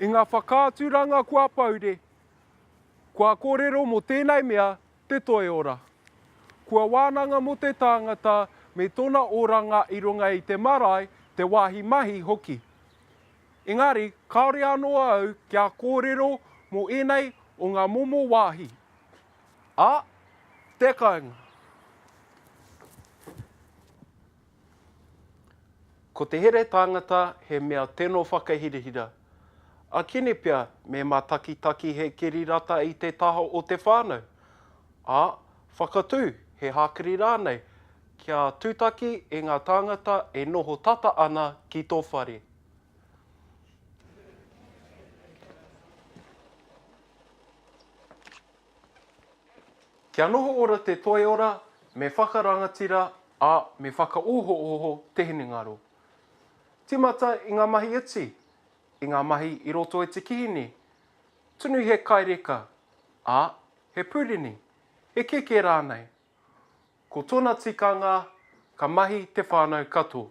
I ngā whakaaturanga kua poure, kua kōrero mō tēnei mea te toiora. Kua wānanga mō te tāngata me tōna oranga i runga i te marae, te wāhi mahi hoki. Engari, kāore anō au kia kōrero mō ēnei o ngā momo wāhi. Ā, te kāinga. Ko te here tāngata he mea teno whakahirahira. A Kini pea me matakitaki he kiri rata i te taha o te whānau, ā, whakatū he hākiri rānei kia tūtaki e ngā tāngata e noho tata ana ki tō whare. Kia noho ora te toiora, me whakarangatira, ā, me whakaohooho te hinengaro. Tīmata i ngā mahi iti, i ngā mahi i roto i te kihini. Tunu he kai reka, ā, he pūrini, he keke rānei. Ko tōna tikanga, ka mahi te whānau kato.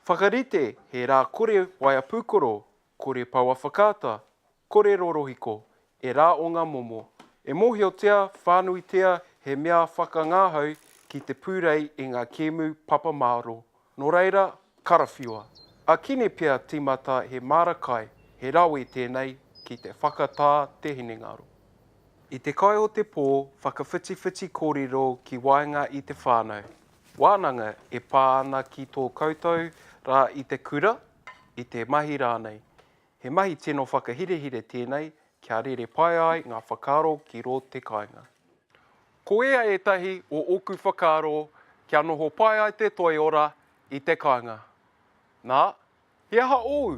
Whakarite he rā kore waea pūkoro, Kore paua whakaata, kore rorohiko, e rā o ngā momo. E mōhiotia whānuitia he mea whakangahau ki te pūrei i ngā kēmu papa māro. Nō reira, karawhiua. A Kine pea tīmata he māra kai, he rawe tēnei ki te whakatā te hinengaro. I te kai o te pō, whakawhitiwhiti kōrero ki waenga i te whānau. Wānanga e pā ana ki tō koutou rā i te kura, i te mahi rānei. He mahi tino whakahirehire tēnei kia rere pai ai ngā whakaaro ki rō te kāinga. Ko ia ētahi o ōku whakaaro kia noho pai ai te toiora i te kāinga. Nā, he aha ōu?